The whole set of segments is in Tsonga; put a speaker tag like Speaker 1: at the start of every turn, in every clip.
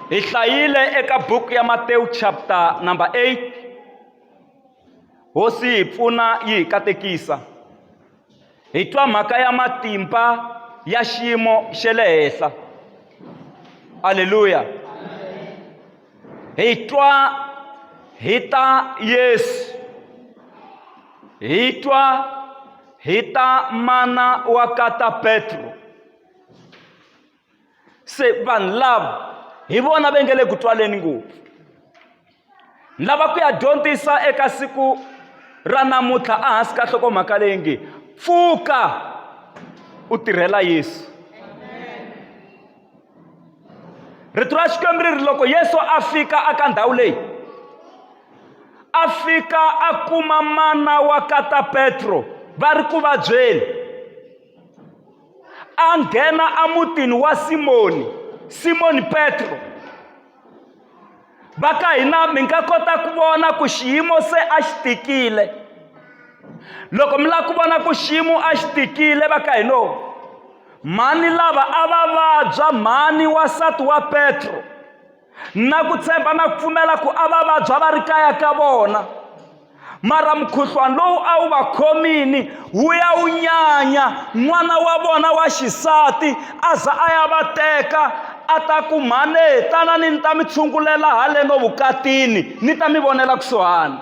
Speaker 1: hi hlayile eka buku ya matewu chapter number 8 hosi yi hi pfuna yi hi katekisa hi twa mhaka ya matimba ya xiyimo xa le henhla aleluya hi twa hi ta yesu hi twa hi ta mana wa kata petro se vanhu lava hi vona va nge le ku twaleni ngopfu ni lava ku ya dyondzisa eka siku ra namuntlha ehansi ka hlokomhaka leyi nge pfuka u tirhela yesu rito ra xikwembu ri ri loko yesu a fika aka ndhawu leyi a fika a kuma mana wa kata petro va ri ku vabyeni a nghena emutini wa simoni simoni petro va ka hina mi nga kota ku vona ku xiyimo se a xi tikile loko mi lava ku vona ku xiyimo a xi tikile va ka hino mhani lava a va vabya mhani wasati wa petro na ku tshemba na ku pfumela ku a va vabya va ri kaya ka vona mara mukhuhlwana lowu a wu va khomini wu ya wu nyanya n'wana wa vona wa xisati a za a ya va teka a ta ku mhane tanani ni ta mi tshungulela haleno vukatini ni ta mi vonela kusuhani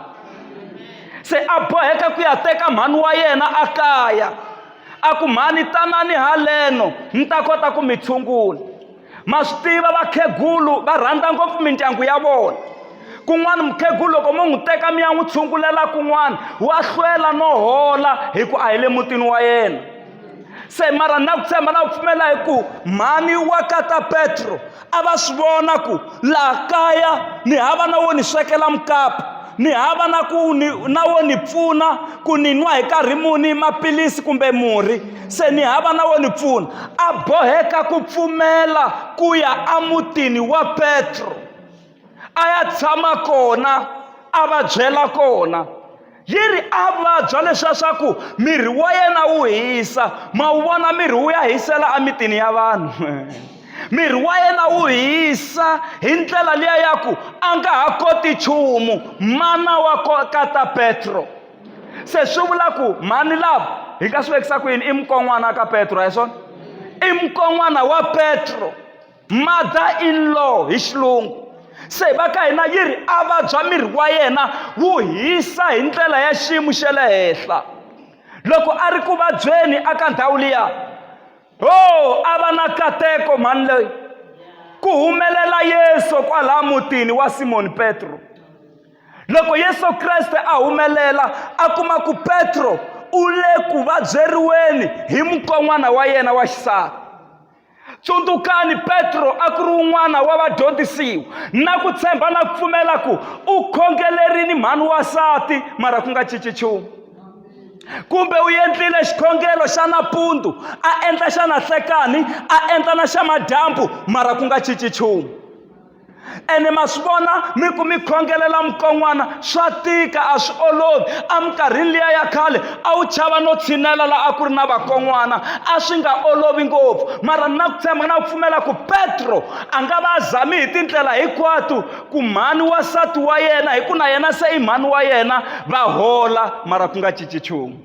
Speaker 1: se a boheka ku ya teka mhani wa yena a kaya a ku mhani tanani haleno ni ta kota ku mi tshungula ma swi tiva vakhegulu va rhandza ngopfu mindyangu ya vona kun'wana mukhegulu loko mo n'wi teka mi ya n'wi tshungulela kun'wana wa hlwela no hola hi ku a hi le mutini wa yena se mara na ku tshemba na ku pfumela hi ku mhani wa kata petro a va swi vona ku laha kaya ni hava na wo ni swekela mukapu ni hava na ku ni na wo ni pfuna ku ni nwa hi karhi muni maphilisi kumbe murhi se ni hava na wo ni pfuna a boheka ku pfumela ku ya emutini wa petro a ya tshama kona a va byela kona yi ri a vabya leswiya swa ku miri wa yena wu hisa ma wu vona miri wu ya hisela emitini ya vanhu miri wa yena wu hisa hi ndlela liya ya ku a nga ha koti nchumu mana wa kata petro se swi vula ku mhani lava hi nga swi vekisa ku yini i mukon'wana ka petro hi swona i mukon'wana wa petro mother in law hi xilungu se hi va ka hina yi ri a vabya miri wa yena wu hisa hi ndlela ya xiyimo xa le henhla loko a ri ku vabyeni aka ndhawu liya ho oh, a va na kateko mhani loyi ku humelela yesu kwalaha mutini wa simoni petro loko yesu kreste a humelela a kuma ku petro u le ku vabyeriweni hi mukon'wana wa yena wa xisati tsundzukani petro a ku ri un'wana wa vadyondzisiwa na ku tshemba na ku pfumela ku u khongelerini mhani wasati mara ku nga cinci nchumu kumbe u endlile xikhongelo xa nampundzu a endla xa nanhlekani a endla na xa madyambu mara ku nga cinci nchumu ene ma swi vona mi ku mi khongelela mukon'wana swa tika a swi olovi eminkarhini liya ya khale a wu chava no tshinela laha a ku ri na vakon'wana a swi nga olovi ngopfu mara na ku tshemba na ku pfumela ku petro a nga va a zami hi tindlela hinkwato ku mhani wa nsati wa yena hi ku na yena se i mhani wa yena va hola mara ku nga cinci nchumu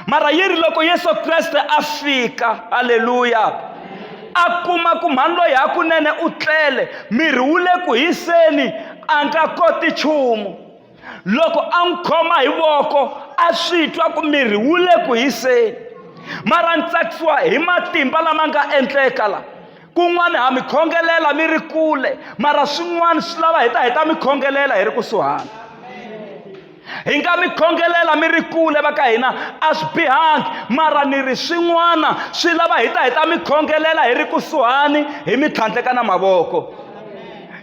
Speaker 1: mara yi ri loko yesu kreste a fika halleluya a kuma ku mhani loyi hakunene u tlele miri wu le ku hiseni a nga koti nchumu loko a n'wi khoma hi voko a swi twa ku miri wu le ku hiseni mara ni tsakisiwa hi matimba lama nga endleka la kun'wana ha mi khongelela mi ri kule mara swin'wana swi lava hi ta hi ta mi khongelela hi ri kusuhana hi nga mi khongelela mi ri kule va ka hina a swi bihangi mara ni ri swin'wana swi lava hi ta hi ta mi khongelela hi ri kusuhani hi mi tlhandleka na mavoko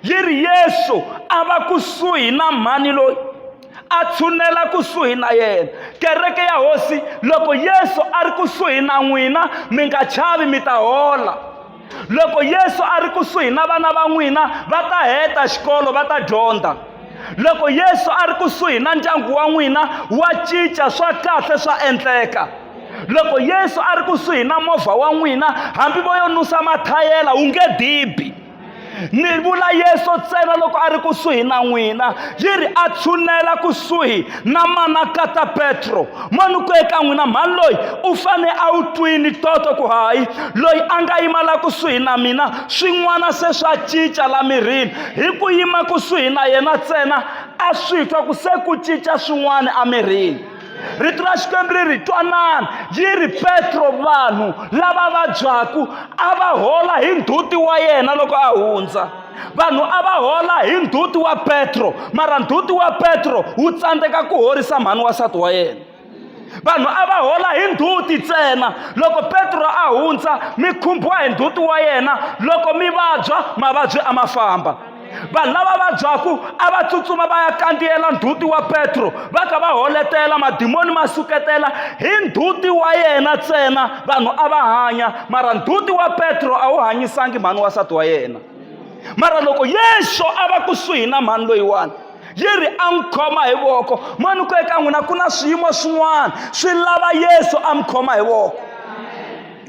Speaker 1: yi ri yesu a va kusuhi na mhani loyi a tshunela kusuhi na yena kereke ya hosi loko yesu a ri kusuhi na n'wina mi nga chavi mi ta hola loko yesu a ri kusuhi na vana va n'wina va ta heta xikolo va ta dyondza loko yesu a ri kusuhi na ndyangu wa n'wina wa cinca swa kahle swa endleka loko yesu a ri kusuhi na movha wa n'wina hambi vo yo nusa mathayela wu nge dibi ni vula yesu ntsena loko a ri kusuhi na n'wina yi ri a tshunela kusuhi na manakata petro manu ku eka n'wina mhani loyi u fane a wu twini toto ku hayi loyi a nga yima la kusuhi na mina swin'wana se swa cinca la mirini hi ku yima kusuhi na yena ntsena a swi twa ku se ku cinca swin'wana emirini rito ra xikwembu ri ri twanani yi ri petro vanhu lava vabyaku a va hola hi nduti wa yena loko a hundza vanhu a va hola hi ndzhuti wa petro mara ndzhuti wa petro wu tsandzeka ku horisa mhani wasati wa yena vanhu a va hola hi ndzhuti ntsena loko petro a hundza mi khumbiwa hi ndzhuti wa yena loko mi vabya mavabyi a ma famba vanhu lava vabyaku a va tsutsuma va ya kandziyela ndzhuti wa petro va ka va holetela madimoni ma suketela hi ndzhuti wa yena ntsena vanhu a va hanya mara ndzhuti wa petro a wu hanyisangi mhani wa nsati wa yena mara loko yesu a va kusuhi na mhani loyiwani yi ri a n'wi khoma hi voko mani ku eka n'wina ku na swiyimo swin'wana swi lava yesu a mi khoma hi voko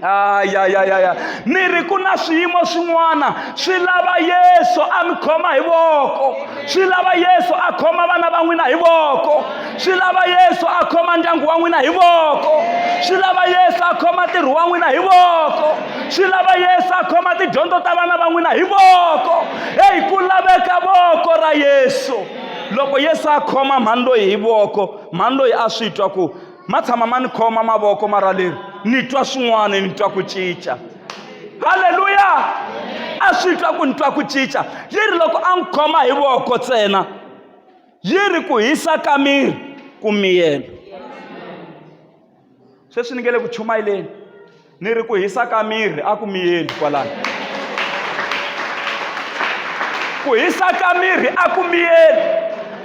Speaker 1: ayayayaya ni ri ku na swiyimo swin'wana swi lava yesu a mi khoma hi voko swi lava yesu a khoma vana va n'wina hi voko swi lava yesu a khoma ndyangu wa n'wina hi voko swi lava yesu a khoma ntirho wa n'wina hi voko swi lava yesu a khoma tidyondzo ta vana va n'wina hi voko eyi ku laveka voko ra yesu loko yesu a khoma mhani loyi hi voko mhani loyi a swi twa ku ma tshama ma ni khoma mavoko mara leri ni twa swin'wana ni twa ku cinca halleluya a swi twa ku ni twa ku cinca yi ri loko a n'wi khoma hi voko ntsena yi ri ku hisa ka miri ku miyela sweswi ni nge le ku chumayeleni ni ri ku hisa ka miri a ku miyeli kwalano ku hisa ka miri a ku miyeli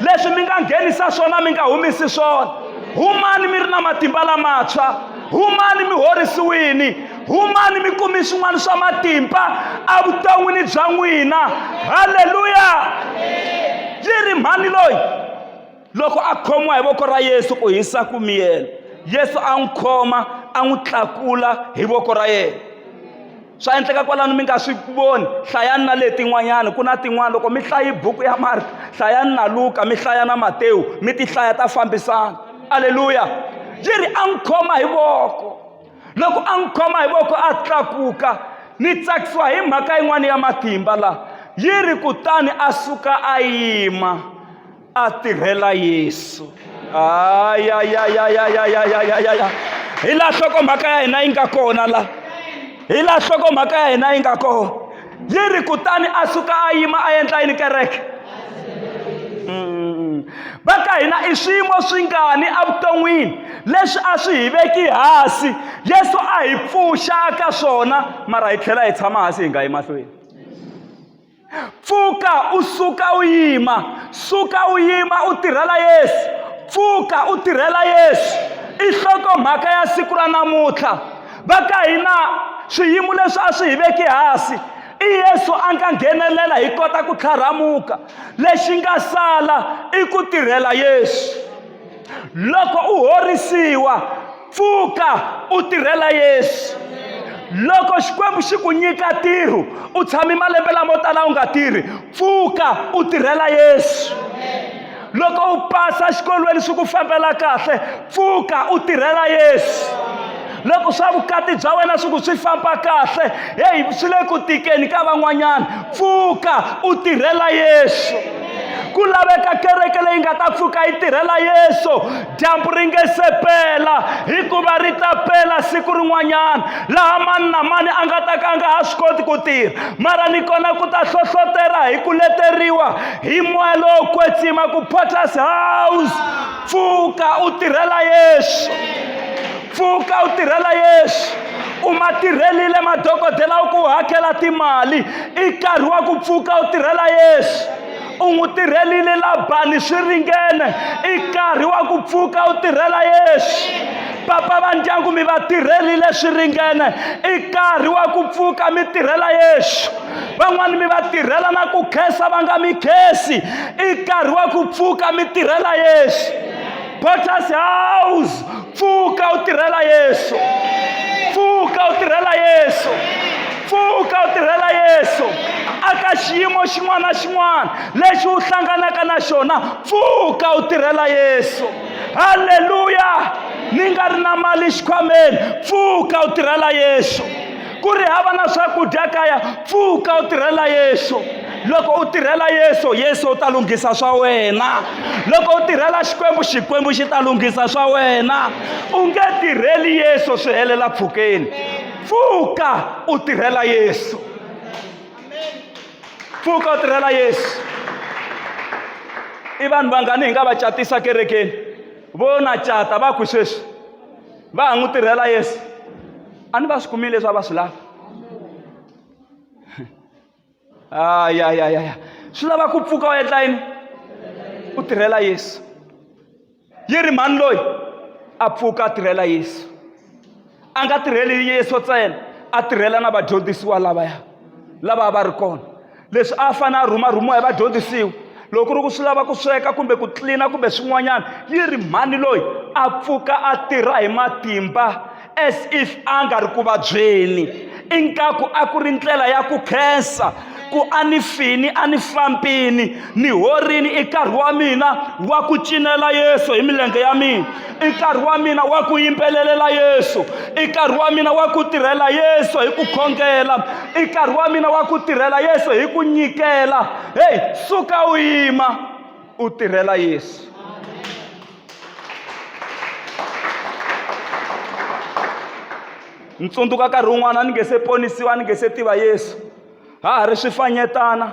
Speaker 1: leswi mi nga nghenisa swona mi nga humisi swona humani mi ri na matimba lamantshwa humani mi horisiwini humani mi kumi swin'wana swa matimba evuton'wini bya n'wina halleluya yi ri mhani loyi loko a khomiwa hi voko ra yesu ku hisa ku miyela yesu a n'wi khoma a n'wi tlakula hi voko ra yena swa endleka kwalano mi nga swi voni hlayani na letin'wanyana ku na tin'wana loko mi hlayi buku ya marta hlayani na luka mi hlaya na matewu mi ti hlaya ta fambisana aleluya yi ri a n'wi khoma hi voko loko a n'wi khoma hi voko a tlakuka ni tsakisiwa hi mhaka yin'wana ya matimba laha yi ri kutani a suka a yima a tirhela yesu ayayayayayayayaya hi laha hlokomhaka ya hina yi nga kona laha hi laha hlokomhaka ya hina yi nga kona yi ri kutani a suka a yima a endla yini kereke va ka hina i swiyimo swingani evuton'wini leswi a swi hi veki hansi yesu a hi pfuxa ka swona mara hi tlhela hi tshama hansi hi nga yi mahlweni pfuka u suka u yima suka u yima u tirhela yesu pfuka u tirhela yesu i nhlokomhaka ya siku ra namuntlha va ka hina swiyimo leswi a swi hi veki hasi i yesu a nga nghenelela hi kota ku tlharhamuka lexi nga sala i ku tirhela yesu loko u horisiwa pfuka u tirhela yesu loko xikwembu xi ku nyika ntirho u tshami malembe lamo tala u nga tirhi pfuka u tirhela yesu loko u pasa xikolweni swi ku fambela kahle pfuka u tirhela yesu loko swa vukati bya wena swi ku swi famba kahle heyi swi le ku tikeni ka van'wanyana pfuka u tirhela yesu ku laveka kereke leyi nga ta pfuka yi tirhela yesu dyambu ri nge se pela hikuva ri ta pela siku rin'wanyana laha mani na mani a nga ta ka a nga ha swi koti ku tirha mara ni kona ku ta hlohlotela hi ku leteriwa hi moya lowo kwetsima ku potters house pfuka u tirhela yesu pfuka u tirhela yesu u ma tirhelile madokodela u ku hakela timali i nkarhi wa ku pfuka u tirhela yesu u n'wi tirhelile labani swi ringene i nkarhi wa ku pfuka u tirhela yesu papa va ndyangu mi va tirhelile swi ringene i nkarhi wa ku pfuka mi tirhela yesu van'wani mi va tirhela na ku khensa va nga mi khensi i nkarhi wa ku pfuka mi tirhela yesu potters house pfuka u tirhela yesu pfuka u tirhela yesu pfuka u tirhela yesu aka xiyimo xin'wana na xin'wana lexi u hlanganaka na xona pfuka u tirhela yesu halleluya ni nga ri na mali xikhwameni pfuka u tirhela yesu ku ri hava na swakudya kaya pfuka u tirhela yesu loko u tirhela yesu yesu u ta lunghisa swa wena loko u tirhela xikwembu xikwembu xi ta lunghisa swa wena u nge tirheli yesu swi helela pfukeni pfuka u tirhela yesu pfuka u tirhela yesu i vanhu vangani hi nga va catisa kerekeni vo na cata va ku sweswi va ha n'wi tirhela yesu a ni va swi kumile leswi a va swi lava ayayayaya swi lava ku pfuka u endla yini u tirhela yesu yi ri mhani loyi a pfuka a tirhela yesu a nga tirheli yesu ntsena a tirhela na vadyondzisiwa lavaya lava a va ri kona leswi a fanele a rhumarhumiwa hi vadyondzisiwa loko ku ri ku swi lava ku sweka kumbe ku tlilina kumbe swin'wanyana yi ri mhani loyi a pfuka a tirha hi matimba as if a nga ri ku vabyeni ingaku a ku ri ndlela ya ku khensa ku a ni fini a ni fambini ni horini i nkarhi wa mina wa ku cinela yesu hi milenge ya mina i nkarhi wa mina wa ku yimbelelela yesu i nkarhi wa mina wa ku tirhela yesu hi ku khongela i nkarhi wa mina wa ku tirhela yesu hi ku nyikela heyi suka u yima u tirhela yesu ni tsundzuka nkarhi wun'wana ni nge se ponisiwa ni nge se tiva yesu ha ha ri swifanyetana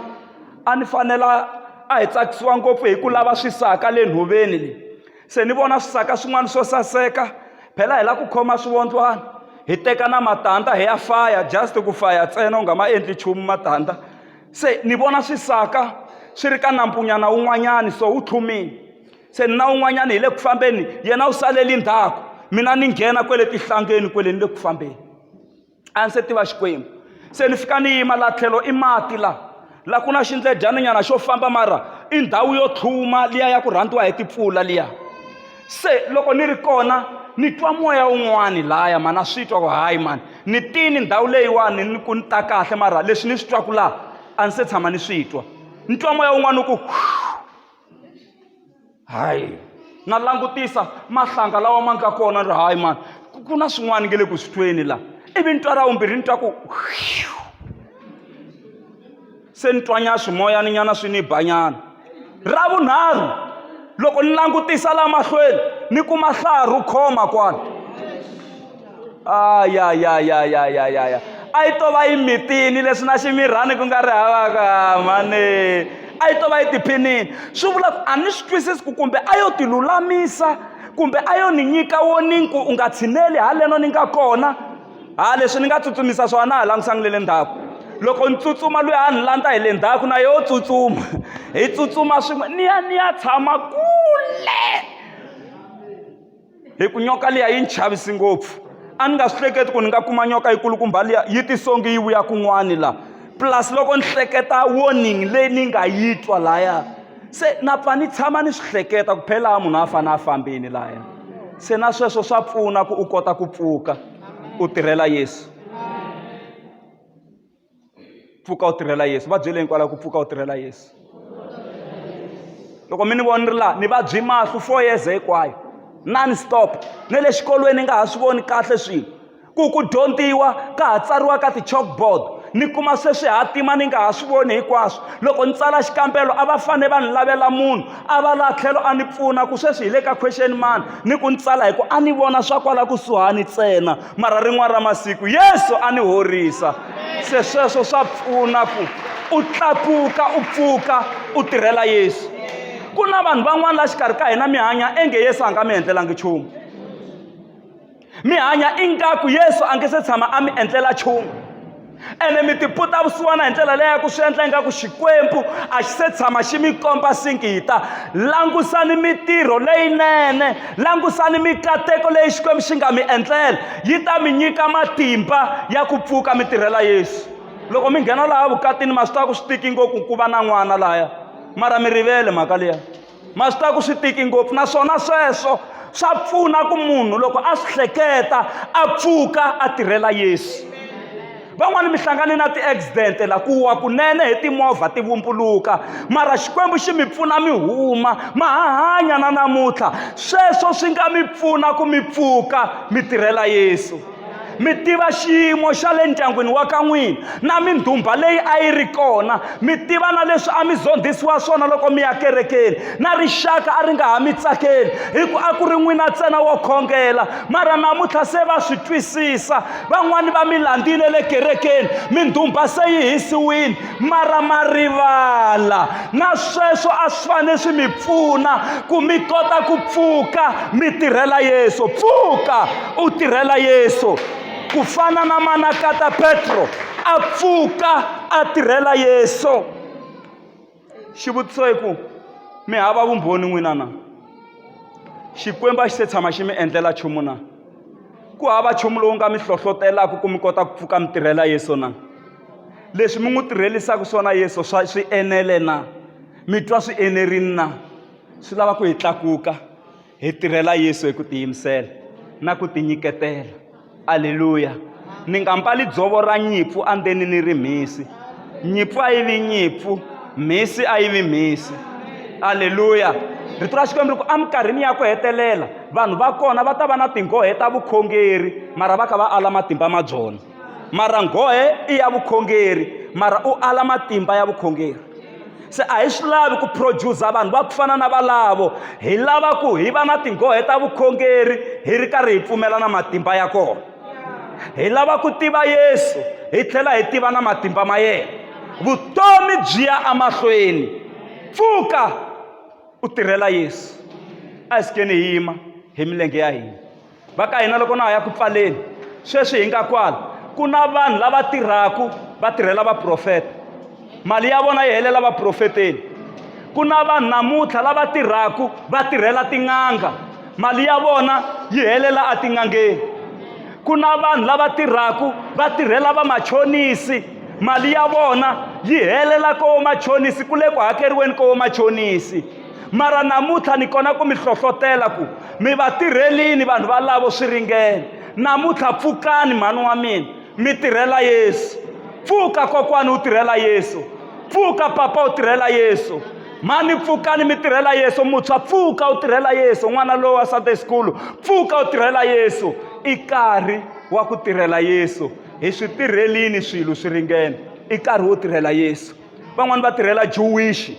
Speaker 1: a ni fanela a hi tsakisiwa ngopfu hi ku lava swisaka le nhoveni leyi se ni vona swisaka swin'wana swo saseka phela hi la ku khoma swivondlwana hi teka na matandza hi ya faya just ku faya ntsena u nga ma endli nchumu matandza se ni vona swisaka swi ri ka nampunyana wun'wanyani so wu tlhumini se ni na wun'wanyani hi le ku fambeni yena u saleli ndzhaku mina ni nghena kwele tihlangeni kwele ni le ku fambeni a ndzi se tiva xikwembu se ni fika ni yima laha tlhelo i mati laha laha ku na xindledyaninyana xo famba mara i ndhawu yo tlhuma liya ya ku rhandziwa hi timpfula liya se loko ni ri kona ni twa moya wun'wani lahaya mani a swi twa ku hayi mani ni tini ndhawu leyiwani ni ku ni ta kahle mara leswi ni swi twaku laha a ni se tshama ni swi twa ni twa moya wun'wani u ku hayi na langutisa mahlanga lawa ma nga kona ri hayi mani ku na swin'wana nge le ku swi tweni laha ivi ni twa ra vumbirhi ni twa ku se ni twanya swimoyani nyana swi ni banyana ra vunharhu loko ni langutisa laha mahlweni ni kuma hlaha ro khoma kwala aya ya ya ya ya ya ya a yi to va yi mitini leswi na ximirhani ku nga ri havaka mani a yi to va yi tiphinini swi vula ku a ni swi twisisi ku kumbe a yo tilulamisa kumbe a yo ni nyika wo ni ku u nga tshineli haleno ni nga kona ha leswi ni nga tsutsumisa swona ha langusangi le le ndzhaku loko ni tsutsuma loyi a ni landza hi le ndzhaku na yo tsutsuma hi tsutsuma swin'we ni ya ni ya tshama kule hi ku nyoka liya yi ni chavisi ngopfu a ni nga swi hleketi ku ni nga kuma nyoka yi kulukumba liya yi tisongi yi vuya kun'wani laha plus loko ni hleketa warning leyi ni nga yi twa lahaya se na pfa ni tshama ni swi hleketa ku phela munhu a fanele a fambini lahaya se na sweswo swa pfuna ku u kota ku pfuka u tirhela yesu pfuka u tirhela yesu va byele hinkwalaho ku pfuka u tirhela yesu loko mi ni vona ni ri laha ni vabyi mahlo four years hinkwayo non stop ni le xikolweni ni nga ha swi voni kahle swilo ku ku dyondziwa ka ha tsariwa ka ti-chalkboard ni kuma sweswi ha tima ni nga ha swi voni hinkwaswo loko ni tsala xikambelo a va fanele va ni lavela munhu a va laha tlhelo a ni pfuna ku sweswi hi le ka question mani ni ku ni tsala hi ku a ni vona swa kwala kusuhani ntsena mara rin'wana ra masiku yesu a ni horisa se sweswo swa pfuna ku u tlakuka u pfuka u tirhela yesu ku na vanhu van'wana la xikarhi ka hina mi hanya enge yesu a nga mi endlelangi nchumu mi hanya ingaku yesu a nge se tshama a mi endlela nchumu ene mi tiputa vusiwana hi ndlela leyi ya ku swi endla ingaku xikwembu a xi se tshama xi mi komba singita langusani mitirho leyinene langusani mikateko leyi xikwembu xi nga mi endlela yi ta mi nyika matimba ya ku pfuka mi tirhela yesu loko mi nghena laha vukatini ma swi tiva ku swi tiki ngopfu ku va na n'wana laya mara mi rivele mhaka liya ma swi ta ku swi tiki ngopfu naswona sweswo swa pfuna ku munhu loko a swi hleketa a pfuka a tirhela yesu van'wani mi hlangane na ti-accident la ku wa kunene hi timovha ti vumbuluka mara xikwembu xi mi pfuna mi huma ma ha hanya na namuntlha sweswo swi nga mi pfuna ku mi pfuka mi tirhela yesu mi tiva xiyimo xa le ndyangwini wa ka n'wina na mindhumba leyi a yi ri kona mi tiva na leswi a mi zondhisiwa swona loko mi ya kerekeni na rixaka a ri nga ha mi tsakeli hi ku a ku ri n'wina ntsena wo khongela mara namuntlha se va swi twisisa van'wani va mi landzile le kerekeni mindhumba se yi hisiwile mara ma rivala na sweswo a swi fanele swi mi pfuna ku mi kota ku pfuka mi tirhela yesu pfuka u tirhela yesu ku fana na manakata petro a pfuka a tirhela yesu xivutiso i ku mi hava vumbhoni n'wina na xikwembu a xi se tshama xi mi endlela nchumu na ku hava nchumu lowu nga mi hlohlotelaka ku mi kota ku pfuka mi tirhela yesu na leswi mi n'wi tirhelisaka swona yesu swa swi enele na mi twa swi enerini na swi lava ku hi tlakuka hi tirhela yesu hi ku tiyimisela na ku tinyiketela aleluya ni nga mbali dzovo ra nyimpfu andzeni ni ri mhisi nyimpfu a yi vi nyimpfu mhisi a yi vi mhisi aleluya rito ra xikwembu ri ku eminkarhini ya ku hetelela vanhu va kona va ta va na tinghohe ta vukhongeri mara va kha va ala matimba ma byona mara nghohe i ya vukhongeri mara u ala matimba ya vukhongeri se a hi swi lavi ku producer vanhu va ku fana na valavo hi lava ku hi va na tinghohe ta vukhongeri hi ri karhi hi pfumela na matimba ya kona hi lava ku tiva yesu hi tlhela hi tiva na matimba ma yena vutomi byi ya emahlweni pfuka u tirhela yesu a hi sikeni hi yima hi milenge ya hina va ka hina loko na ha ya ku pfaleni sweswi hi nga kwala ku na vanhu lava tirhaka va tirhela vaprofeta mali ya vona yi helela vaprofeteni ku na vanhu namuntlha lava tirhaka va tirhela tin'anga mali ya vona yi helela etin'angeni ku na vanhu lava tirhaka va tirhela vamachonisi mali ya vona yi helela ko machonisi ku le ku hakeriweni ko machonisi mara namuntlha ni kona ku mi hlohlotela ku mi va tirhelini vanhu valavo swi ringene namuntlha pfukani mhani wa mina mi tirhela yesu pfuka kokwani u tirhela yesu pfuka papa u tirhela yesu mhani pfukani mi tirhela yesu mutshwa pfuka u tirhela yesu n'wana lowu wa sunday school pfuka u tirhela yesu i nkarhi wa ku tirhela yesu hi swi tirhelini swilo swi ringene i nkarhi wo tirhela yesu van'wani va tirhela juwishi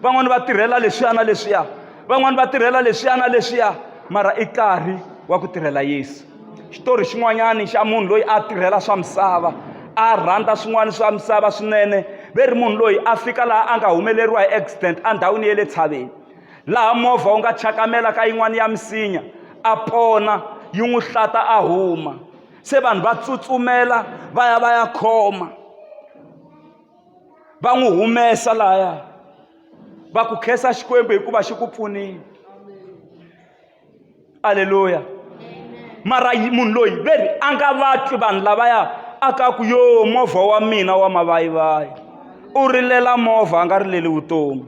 Speaker 1: van'wani va tirhela leswiya na leswiya van'wani va tirhela leswiya na leswiya mara i nkarhi wa ku tirhela yesu xitori xin'wanyani xa munhu loyi a tirhela swa misava a rhandza swin'wana swa misava swinene ve ri munhu loyi a fika laha a nga humeleriwa hi accident endhawini ya le tshaveni laha movha wu nga chakamela ka yin'wana ya misinya a pona yi n'wi hlata a huma se vanhu va tsutsumela va ya va ya khoma va n'wi humesa laya va ku khensa xikwembu hikuva xi ku pfunile aleluya mara munhu loyi ve ri a nga vatwi vanhu lavaya a ka ku yo movha wa mina wa mavayivayi u rilela movha a nga rileli vutomi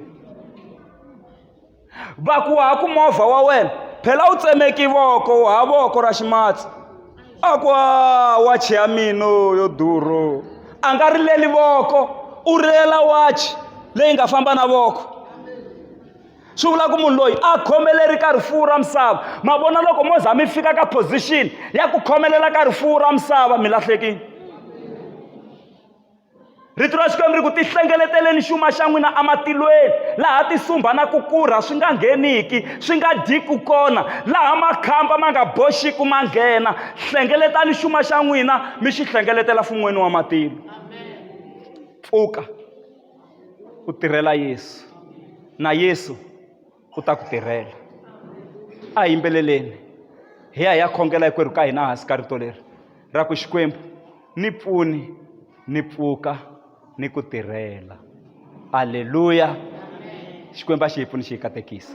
Speaker 1: va ku ha ku movha wa wena phela wu tsemeki voko wu ha voko ra ximatsi a ku a wachi ya mina yo durho a nga rileli voko u rilela wachi leyi nga famba na voko swi vula ku munhu loyi a khomeleri ka rifuwo ra misava ma vona loko mo za mi fika ka position ya ku khomelela ka rifuwo ra misava mi lahlekile Rito ra Xikwembu ri ku tihlengeleteleni xuma xa n'wina ematilweni laha tisumba na ku kurha swi nga ngheniki swi nga dyiku kona laha makhamba ma nga boxiku ma nghena hlengeletani xuma xa n'wina mi xi hlengeletela fun'weni wa matilo pfuka u tirhela yesu na yesu u ta ku tirhela a hi yimbeleleni hi ya hi ya khongela hikwerhu ka hina hansi ka rito leri ra ku xikwembu ni pfuni ni pfuka ni ku tirhela aleluya xikwembu a xi hi pfuni xi hi katekisa